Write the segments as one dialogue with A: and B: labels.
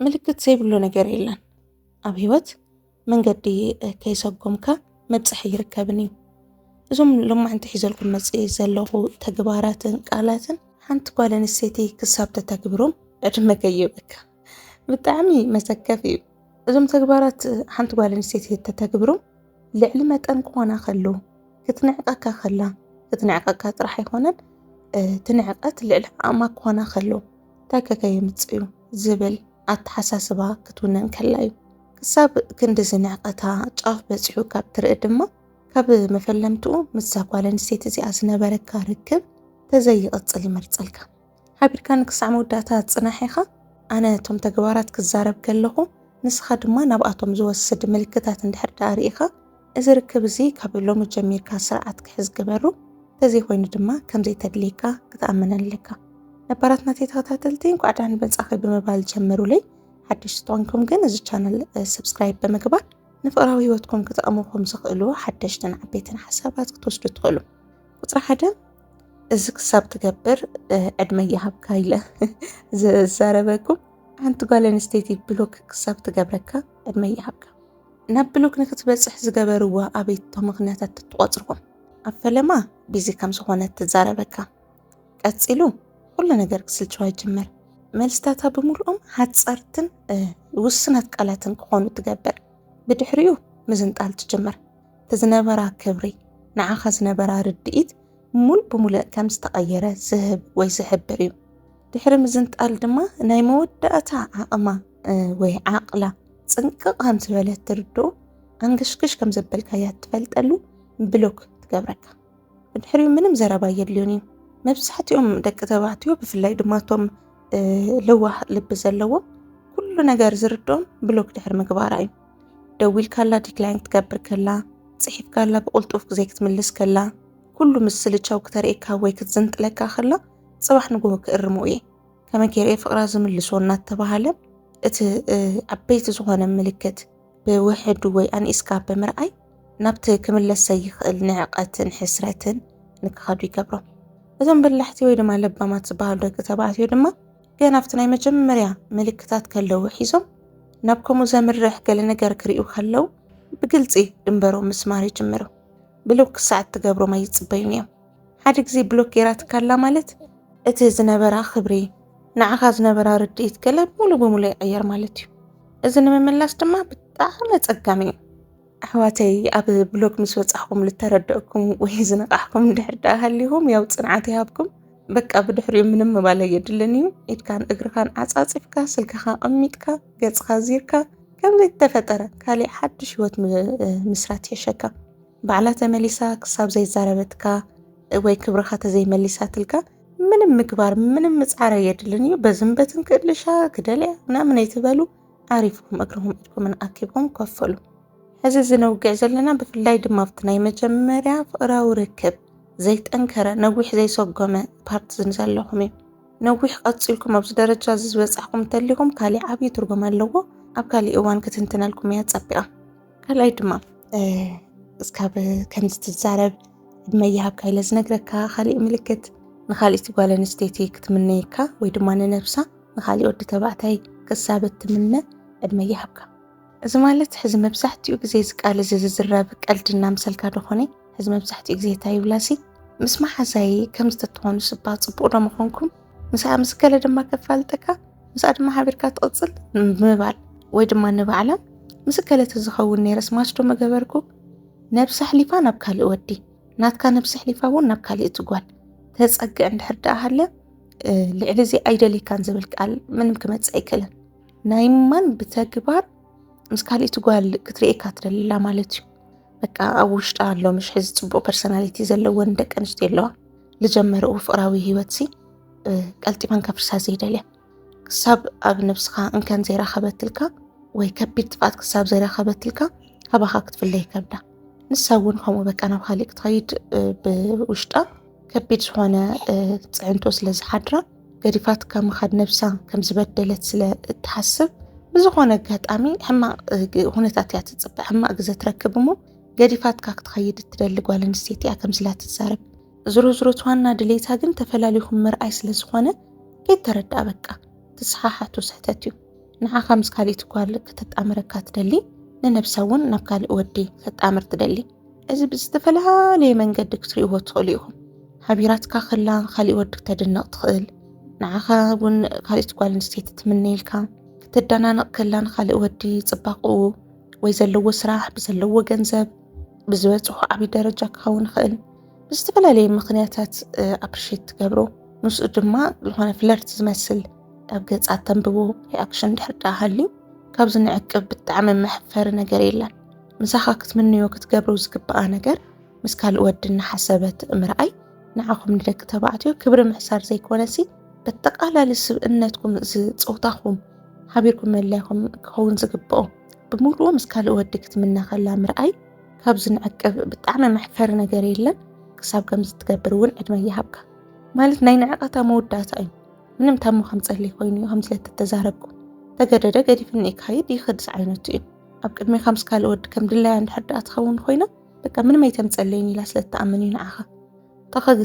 A: ምልክት ዘይብሉ ነገር የለን ኣብ ህይወት መንገዲ ከይሰጎምካ መብፅሒ ይርከብን እዩ እዞም ሎማዕንቲ ሒዘልኩም መፅ ዘለኹ ተግባራትን ቃላትን ሓንቲ ጓል ኣንስተይቲ ክሳብ ተተግብሮም ዕድመ ከይበካ ብጣዕሚ መሰከፍ እዩ እዞም ተግባራት ሓንቲ ጓል ኣንስተይቲ ተተግብሮም ልዕሊ መጠን ክኾና ከሎ ክትንዕቀካ ከላ ክትንዕቀካ ጥራሕ ኣይኮነን ትንዕቀት ልዕሊ ዓቕማ ክኾና ከሎ እንታይ ከ ከየምጽእ'ዩ ዝብል ኣተሓሳስባ ክትውንን ከላ'ዩ። ክሳብ ክንድዚ ንዕቀታ ጫፍ በጺሑ ካብ ትርኢ ድማ ካብ መፈለምትኡ ምስዛ ጓል ኣንስተይቲ እዚኣ ዝነበረካ ርክብ ተዘይቕጽል ይመርጸልካ። ሓቢርካኒ ክሳዕ መወዳእታ ጽናሕ ኢኻ፣ ኣነ እቶም ተግባራት ክዛረብ ከለኹ ንስኻ ድማ ናብኣቶም ዝወስድ ምልክታት እንድሕር ደኣ ርኢኻ እዚ ርክብ እዚ ካብ ሎሚ ጀሚርካ ስርዓት ክሕዝ ግበሩ፣ እንተዘይኮይኑ ድማ ከምዘይተድልየካ ክትኣምን ኣለካ። ነባራት ናተይ ተኸታተልቲ እንኳዕ ደሓን መጻኺ ብምባል ጀምሩለይ። ሓደሽቲ ተኾንኩም ግን እዚ ቻነል ሰብስክራይብ ብምግባር ንፍቕራዊ ህይወትኩም ክጠቕሙኹም ዝኽእሉ ሓደሽትን ዓበይትን ሓሳባት ክትወስዱ ትኽእሉ። ቁፅሪ ሓደ እዚ ክሳብ ትገብር ዕድመ ይሃብካ ኢለ ዝዛረበኩም ሓንቲ ጓል ኣንስተይቲ ብሎክ ክሳብ ትገብረካ ዕድመ ይሃብካ። ናብ ብሎክ ንክትበጽሕ ዝገበርዋ ኣበይቶ ምክንያታት ትትቆጽርኩም ኣብ ፈለማ ቢዚ ከም ዝኾነት ትዛረበካ ቀጺሉ ኩሉ ነገር ክስልችዋ ይጅምር መልስታታ ብምሉኦም ሓጸርትን ውስናት ቃላትን ክኾኑ ትገብር ብድሕሪኡ ምዝንጣል ትጅምር ትዝነበራ ክብሪ ንዓኻ ዝነበራ ርድኢት ሙሉ ብምሉእ ከም ዝተቐየረ ዝህብ ወይ ዝሕብር እዩ ድሕሪ ምዝንጣል ድማ ናይ መወዳእታ ዓቕማ ወይ ዓቕላ ፅንቅቕ ከም ዝበለት ትርድኦ ኣንገሽግሽ ከም ዘበልካያ ትፈልጠሉ ብሎክ ትገብረካ ብድሕሪኡ ምንም ዘረባ የድልዮን እዩ መብዛሕትኦም ደቂ ተባዕትዮ ብፍላይ ድማ እቶም ለዋህ ልቢ ዘለዎም ኩሉ ነገር ዝርድኦም ብሎክ ድሕሪ ምግባራ እዩ ደዊልካላ ዲክላይን ክትገብር ከላ ፅሒፍካላ ብቕልጡፍ ግዜ ክትምልስ ከላ ኩሉ ምስ ስልቻው ክተርእካ ወይ ክትዝንጥለካ ከላ ፅባሕ ንግሆ ክእርሞ እየ ከመይ ገይረ እየ ፍቕራ ዝምልሶ እናተባሃለ እቲ ዓበይቲ ዝኾነ ምልክት ብውሕዱ ወይ ኣንኢስካ ብምርኣይ ናብቲ ክምለስ ዘይኽእል ንዕቐትን ሕስረትን ንክኸዱ ይገብሮም። እዞም በላሕቲ ወይ ድማ ለባማት ዝበሃሉ ደቂ ተባዕትዮ ድማ ገና ኣብቲ ናይ መጀመርያ ምልክታት ከለዉ ሒዞም ናብ ከምኡ ዘምርሕ ገለ ነገር ክርእዩ ከለዉ ብግልፂ ድንበሮም ምስማር ይጅምሩ። ብልው ክሳዕ እትገብሮም ኣይፅበዩን እዮም። ሓደ ግዜ ብሎክ ጌራትካ ኣላ ማለት እቲ ዝነበራ ክብሪ ንዓኻ ዝነበራ ርድኢት ገለ ሙሉ ብሙሉ ይቕየር ማለት እዩ እዚ ንምምላስ ድማ ብጣዕሚ ኣጸጋሚ እዩ ኣሕዋተይ ኣብ ብሎክ ምስ ወጻኹም ልተረድእኩም ወይ ዝነቃሕኩም ድሕር ዳኣ ሃሊኹም ያው ጽንዓት ይሃብኩም በቃ ብድሕሪኡ ምንም ምባል ኣየድልን እዩ ኢድካን እግርኻን ዓጻጺፍካ ስልክኻ ቐሚጥካ ገጽኻ ዚርካ ከም ዘይተፈጠረ ካሊእ ሓድሽ ህይወት ምስራት የሸካ ባዕላ ተመሊሳ ክሳብ ዘይዛረበትካ ወይ ክብርኻ ተዘይመሊሳትልካ ምንም ምግባር ምንም ምጽዓር ኣየድልን እዩ። በዝም በትን ክእልሻ ክደልያ ምናምን ኣይትበሉ። ዓሪፍኩም እግርኹም ኢድኩምን ኣኪብኩም ኮፍ በሉ። ሕዚ እዚ ነውግዕ ዘለና ብፍላይ ድማ ኣብቲ ናይ መጀመርያ ፍቕራዊ ርክብ ዘይጠንከረ ነዊሕ ዘይሰጎመ ፓርት ዝን ዘለኹም እዩ ነዊሕ ቀፂልኩም ኣብዚ ደረጃ እዚ ዝበፃሕኩም እንተሊኹም ካሊእ ዓብዪ ትርጉም ኣለዎ ኣብ ካሊእ እዋን ክትንትነልኩም እያ ፀቢቓ ካልኣይ ድማ እስካብ ከምዚ ትዛረብ ዕድመ ይሃብካ ኢለ ዝነግረካ ካሊእ ምልክት ንካሊእቲ ጓል ኣንስተይቲ ክትምነየካ ወይ ድማ ንነብሳ ንካሊእ ወዲ ተባዕታይ ክሳብ እትምነ ዕድመ ይሃብካ። እዚ ማለት ሕዚ መብዛሕትኡ ግዜ እዚ ቃል እዚ ዝዝረብ ቀልዲ እናምሰልካ ዶኾነ ሕዚ መብዛሕትኡ ግዜ እንታይ ይብላሲ ምስ መሓዛይ ከም ዝተትኾኑ ስባ ፅቡቕ ዶ ምኾንኩም ምስኣ ምስ ገለ ድማ ከፋልጠካ ምስኣ ድማ ሓቢርካ ትቕፅል ምባል ወይ ድማ ንባዕላ ምስ ገለ ተዝኸውን ነይረስ ማችዶ መገበርኩ ነብሲ ኣሕሊፋ ናብ ካልእ ወዲ ናትካ ነብሲ ኣሕሊፋ እውን ናብ ካልእ ትጓል ተፀግዕ እንድሕር ደኣ ሃለ ልዕሊ እዚ ኣይደልካን ዝብል ቃል ምንም ክመፅእ ኣይክእልን ናይ ማን ብተግባር ምስ ካልእቲ ጓል ክትርእየካ ትደልላ ማለት እዩ በቃ ኣብ ውሽጣ ኣሎ ምሽ ሕዚ ፅቡቅ ፐርሶናሊቲ ዘለወን ደቂ ኣንስትዮ ኣለዋ ዝጀመርኡ ፍቕራዊ ህይወትሲ ቀልጢፈን ከፍርሳ ዘይደልያ ክሳብ ኣብ ነብስኻ እንከን ዘይረኸበትልካ ወይ ከቢድ ጥፍኣት ክሳብ ዘይረኸበትልካ ካባኻ ክትፍለ ይከብዳ። ንሳ እውን ከምኡ በቃ ናብ ካሊእ ክትኸይድ ብውሽጣ ከቢድ ዝኾነ ፅዕንቶ ስለ ዝሓድራ ገዲፋት ካብ ምኻድ ነብሳ ከም ዝበደለት ስለ እትሓስብ ብዝኾነ ኣጋጣሚ ሕማቕ ኩነታት እያ ትፅበ ሕማቕ ግዘ ትረክብ እሞ ገዲፋትካ ክትኸይድ እትደሊ ጓል ኣንስተይቲ እያ ከምስላ ትዛረብ። ዝሮዝሮት ዋና ድሌታ ግን ተፈላሊኹም ምርኣይ ስለ ዝኾነ ከይተረድኣ በቃ ትስሓሓቱ ስሕተት እዩ። ንዓኻ ምስ ካሊእቲ ጓል ከተጣምረካ ትደሊ ንነብሳ እውን ናብ ካልእ ወዲ ከጣምር ትደሊ። እዚ ብዝተፈላለየ መንገዲ ክትርእይዎ ትኽእሉ ኢኹም። ሓቢራትካ ከላ ካሊእ ወዲ ክተድንቕ ትኽእል፣ ንዓኻ እውን ካሊእቲ ጓል ኣንስተይቲ ትምነየልካ፣ ክተደናንቕ ከላ ንካልእ ወዲ ጽባቕኡ ወይ ዘለዎ ስራሕ ብዘለዎ ገንዘብ ብዝበፅሖ ዓብዪ ደረጃ ክኸውን ይኽእል ብዝተፈላለየ ምክንያታት ኣፕሪሼት ትገብሮ ምስኡ ድማ ዝኾነ ፍለርት ዝመስል ኣብ ገፃ ተንብቦ ሪኣክሽን ድሕር ዳ ሃልዩ ካብዚ ንዕቅብ ብጣዕሚ መሕፈሪ ነገር የለን ምሳኻ ክትምንዮ ክትገብሮ ዝግብኣ ነገር ምስ ካልእ ወዲ እናሓሰበት ምርኣይ ንዓኹም ንደቂ ተባዕትዮ ክብሪ ምሕሳር ዘይኮነሲ በተቃላሊ ስብእነትኩም ዝፆታኹም ሓቢርኩም መላይኹም ክኸውን ዝግብኦ ብምሉኡ ምስ ካልእ ወዲ ክትምነ ከላ ምርኣይ ካብ ዝንዕቅብ ብጣዕሚ መሕፈሪ ነገር የለን። ክሳብ ከምዚ ትገብር እውን ዕድመ ይሃብካ ማለት ናይ ንዕቀታ መወዳእታ እዩ። ምንም ታሞ ከም ጸልይ ኮይኑ እዩ ከምዚ ለተተዛረብኩ ተገደደ ገዲፍኒ ይካይድ ይኽድ ዝዓይነቱ እዩ። ኣብ ቅድሜኻ ምስ ካልእ ወዲ ከም ድላያ እንድሕር ደኣ ትኸውን ኮይና በቃ ምንም ኣይተምጸለይን ኢላ ስለ እትኣምን እዩ ንዓኻ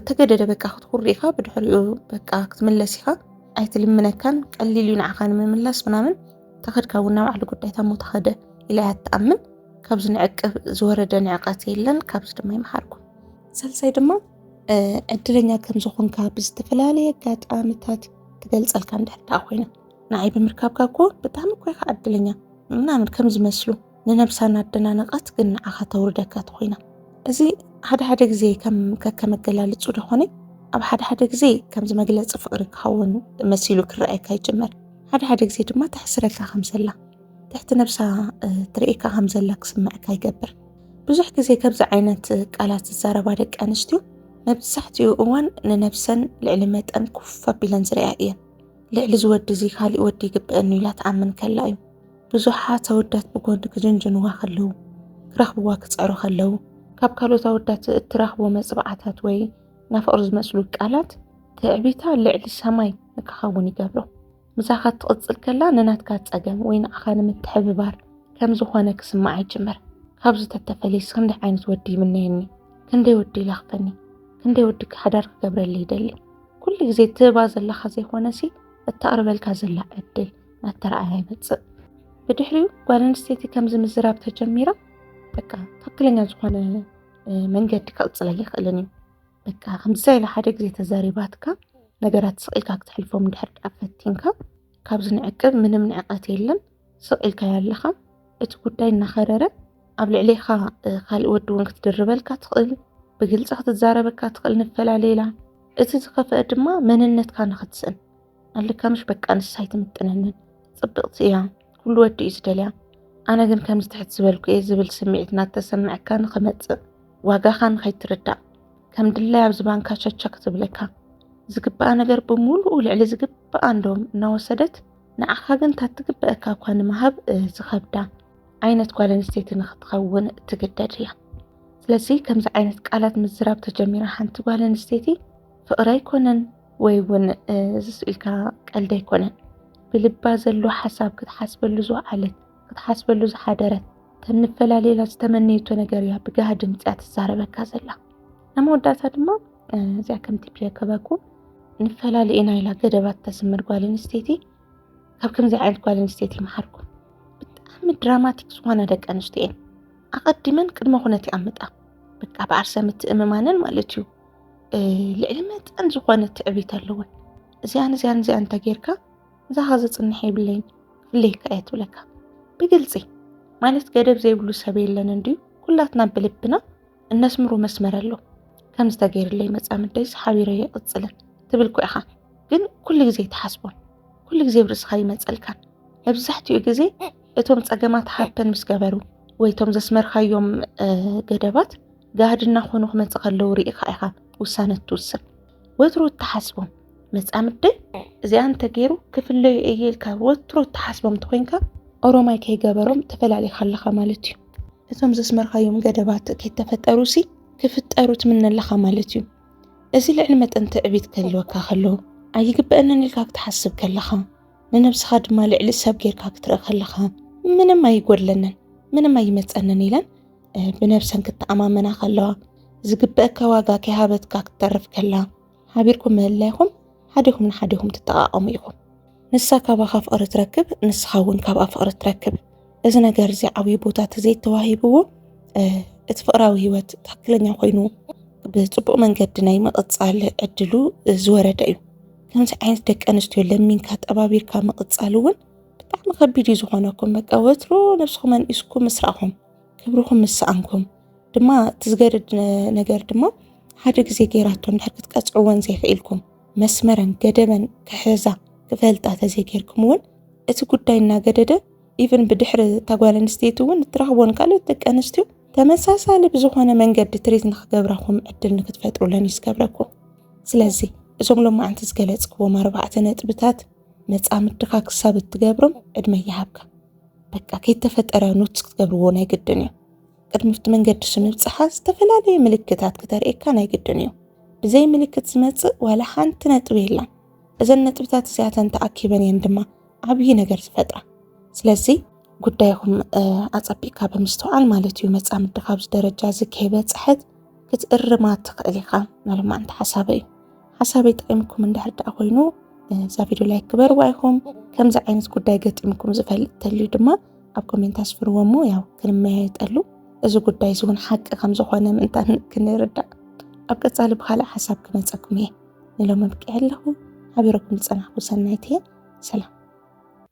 A: ተገደደ በቃ ክትኩር ኢኻ ብድሕሪኡ በቃ ክትምለስ ኢኻ ኣይትልምነካን ቀሊል እዩ ንዓኻ ንምምላስ ምናምን ተኸድካ እውን ናብ ዓሊ ጉዳይ ታሞ ተኸደ ኢላ እያ ትኣምን ካብዚ ንዕቅብ ዝወረደ ንዕቀት የለን ካብዚ ድማ ይምሃርኩም ሳልሳይ ድማ ዕድለኛ ከም ዝኾንካ ብዝተፈላለየ ኣጋጣሚታት ትገልጸልካ እንድሕር ኮይና ንዓይ ብምርካብካ እኮ ብጣዕሚ እኮ ኢኻ ዕድለኛ ምናምን ከም ዝመስሉ ንነብሳ እናደናነቐት ግን ንዓኻ ተውርደካ ትኾይና እዚ ሓደ ሓደ ግዜ ከም ከከመገላልጹ ደኾነ ኣብ ሓደ ሓደ ግዜ ከምዚ መግለጺ ፍቕሪ ክኸውን መሲሉ ክረኣየካ ይጅመር ሓደ ሓደ ግዜ ድማ ተሕስረካ ከም ዘላ ትሕቲ ነብሳ ትርእካ ከም ዘላ ክስምዐካ ይገብር ብዙሕ ግዜ ከምዚ ዓይነት ቃላት ዝዛረባ ደቂ ኣንስትዮ መብዛሕትኡ እዋን ንነብሰን ልዕሊ መጠን ኩፍ ኣቢለን ዝርያ እየን ልዕሊ ዝወዲ እዚ ካልእ ወዲ ይግብአኒ ኢላ ትኣምን ከላ እዩ ብዙሓት ኣወዳት ብጎንዲ ክጅንጅንዋ ከለዉ፣ ክረኽብዋ ክጸሩ ከለዉ፣ ካብ ካልኦት ኣወዳት እትረኽቦ መጽብዓታት ወይ ናፍቕር ዝመስሉ ቃላት ትዕቢታ ልዕሊ ሰማይ ንክኸውን ይገብሮ። ምሳኻ ትቕጽል ከላ ንናትካ ጸገም ወይ ንዓኻ ንምትሕብባር ከም ዝኾነ ክስምዓ ይጅምር። ካብዚ ተተፈልየስ ክንደይ ዓይነት ወዲ ይምነየኒ፣ ክንደይ ወዲ ይላኽፈኒ፣ ክንደይ ወዲ ሓዳር ክገብረለይ ይደሊ። ኩሉ ግዜ ትህባ ዘለኻ ዘይኮነሲ እተቕርበልካ ዘላ ዕድል ኣተረኣያ ይመፅእ። ብድሕሪኡ ጓል ኣንስተይቲ ከምዚ ምዝራብ ተጀሚራ በቃ ትክክለኛ ዝኾነ መንገዲ ክቕፅል ኣይኽእልን እዩ። በቃ ከምዚ ኢለ ሓደ ግዜ ተዛሪባትካ ነገራት ስቕ ኢልካ ክትሕልፎም እንድሕር ድኣ ፈቲንካ ካብዚ ንዕቅብ ምንም ንዕቐት የለን ስቕ ኢልካ ኣለኻ እቲ ጉዳይ እናኸረረ ኣብ ልዕሌኻ ካልእ ወዲ እውን ክትድርበልካ ትኽእል ብግልፂ ክትዛረበካ ትኽእል ንፈላለ ኢላ እቲ ዝኸፍአ ድማ መንነትካ ንኽትስእን ኣልካ ምሽ በቃ ንሳ ኣይትምጥነንን ፅብቕቲ እያ ኩሉ ወዲ እዩ ዝደልያ ኣነ ግን ከምዚ ትሕት ዝበልኩ እየ ዝብል ስምዒት እናተሰምዐካ ንክመፅእ ዋጋኻ ንኸይትርዳእ ከም ድላይ ኣብ ዝባንካ ቸቸክ ትብለካ ዝግብኣ ነገር ብምሉኡ ልዕሊ ዝግብኣ እንዶም እናወሰደት ንዓኻ ግን ታትግብአካ እኳ ንምሃብ ዝኸብዳ ዓይነት ጓል ኣንስተይቲ ንክትኸውን ትግደድ እያ ስለዚ ከምዚ ዓይነት ቃላት ምዝራብ ተጀሚራ ሓንቲ ጓል ኣንስተይቲ ፍቕሪ ኣይኮነን ወይ እውን እዚ ስኢልካ ቀልዲ ኣይኮነን ብልባ ዘሎ ሓሳብ ክትሓስበሉ ዝወዓለት ክትሓስበሉ ዝሓደረት ከም ንፈላለየላ ዝተመነየቶ ነገር እያ ብጋህዲ ምፅያ ትዛረበካ ዘላ ኣብ መወዳእታ ድማ እዚኣ ከምቲ ብዘከበኩ ንፈላለየ ኢና ኢላ ገደባት ተስምር ጓል ኣንስተይቲ ካብ ከምዚ ዓይነት ጓል ኣንስተይቲ ይመሓርኩ ብጣዕሚ ድራማቲክ ዝኾና ደቂ ኣንስትዮ እየን ኣቐዲመን ቅድመ ኩነት ይኣምጣ በቃ ብዓርሰ ምትእምማነን ማለት እዩ ልዕሊ መጠን ዝኾነ ትዕቢት ኣለወን እዚኣን እዚኣን እዚኣ እንተጌርካ እዛኻ ዘፅንሐ የብለይ ክፍለየካ እየ ትብለካ ብግልፂ ማለት ገደብ ዘይብሉ ሰብ የለን እንድዩ ኩላትና ብልብና እነስምሮ መስመር ኣሎ ከም ዝተገይርለይ መፃምደይ ሓቢረ የቕፅልን ትብል ኮ ኢኻ ግን ኩሉ ግዜ ትሓስቦን ኩሉ ግዜ ብርእስኻ ይመፀልካን መብዛሕትኡ ግዜ እቶም ፀገማት ሃፐን ምስ ገበሩ ወይ እቶም ዘስመርካዮም ገደባት ጋህዲ እናኾኑ ክመፅእ ከለዉ ርኢኻ ኢኻ ውሳነ እትውስን ወትሩ እትሓስቦም መፃምደይ እዚኣ እንተገይሩ ክፍለዩ እየ ኢልካ ወትሩ እትሓስቦም እንተኮይንካ ኦሮማይ ከይገበሮም ተፈላሊኻ ኣለኻ ማለት እዩ እቶም ዘስመርካዮም ገደባት ከይተፈጠሩ ሲ ክፍጠሩ ትምነ ኣለኻ ማለት እዩ እዚ ልዕሊ መጠን ትዕቢት ከልወካ ከሎ ኣይግበአንን ኢልካ ክትሓስብ ከለኻ ንነብስኻ ድማ ልዕሊ ሰብ ጌርካ ክትርኢ ከለኻ ምንም ኣይጎድለንን ምንም ኣይመፀንን ኢለን ብነብሰን ክተኣማመና ከለዋ፣ ዝግበእካ ዋጋ ከይሃበትካ ክትተርፍ ከላ፣ ሓቢርኩም ምህላይኹም ሓዲኹም ንሓዲኹም ትጠቓቐሙ ኢኹም። ንሳ ካባኻ ፍቕሪ ትረክብ፣ ንስኻ እውን ካብኣ ፍቕሪ ትረክብ። እዚ ነገር እዚ ዓብዪ ቦታ ተዘይተዋሂብዎ እቲ ፍቕራዊ ህይወት ትክክለኛ ኮይኑ ብፅቡቅ መንገዲ ናይ ምቕፃል ዕድሉ ዝወረደ እዩ ከምዚ ዓይነት ደቂ ኣንስትዮ ለሚንካ ጠባቢርካ ምቕፃል እውን ብጣዕሚ ከቢድ እዩ ዝኾነኩም በቃ ወትሮ ነብስኹም ኣንኢስኩም ምስ ክብርኹም ምስ ሰኣንኩም ድማ እቲ ዝገድድ ነገር ድማ ሓደ ግዜ ገይራቶ እንድሕር ክትቀፅዕወን ዘይኽኢልኩም መስመረን ገደበን ክሕዛ ክፈልጣ ተዘይገይርኩም እውን እቲ ጉዳይ እናገደደ ኢቨን ብድሕሪ እታ ጓል ኣንስተይቲ እውን እትረኽቦን ካልኦት ደቂ ኣንስትዮ ተመሳሳሊ ብዝኾነ መንገዲ ትሪት ንክገብረኩም ዕድል ንክትፈጥሩለን እዩ ዝገብረኩም ስለዚ እዞም ሎማዓንቲ ዝገለፅክዎም ኣርባዕተ ነጥብታት መፃምድኻ ክሳብ እትገብሮም ዕድመ ይሃብካ በቃ ከይተፈጠረ ኖትስ ክትገብርዎ ናይ ግድን እዩ ቅድሚ ብቲ መንገዲ ስንብፅሓ ዝተፈላለየ ምልክታት ክተርእካ ናይ ግድን እዩ ብዘይ ምልክት ዝመፅእ ዋላ ሓንቲ ነጥቢ የላን እዘን ነጥብታት እዚኣተን ተኣኪበን እየን ድማ ዓብዪ ነገር ዝፈጥራ ስለዚ ጉዳይኹም ኣፀቢቕካ ብምስተውዓል ማለት እዩ መፃምዲ ካብዚ ደረጃ እዚ ከይበፅሐት ክትእርማ ትኽእል ኢኻ መልማ እንተ ሓሳበ እዩ ሓሳበይ ጠቂምኩም እንድሕር ደኣ ኮይኑ እዛ ቪድዮ ላይክ ግበርዋ ኢኹም። ከምዚ ዓይነት ጉዳይ ገጢምኩም ዝፈልጥ ተልዩ ድማ ኣብ ኮሜንት ኣስፍርዎ እሞ ያው ክንመያየጠሉ እዚ ጉዳይ እዚ እውን ሓቂ ከም ዝኾነ ምእንታን ክንርዳእ ኣብ ቀፃሊ ብካልእ ሓሳብ ክመፀኩም እየ ንሎም ኣብቂዐ ኣለኹ ሓቢረኩም ዝፀናሕኩ ሰናይት እየ ሰላም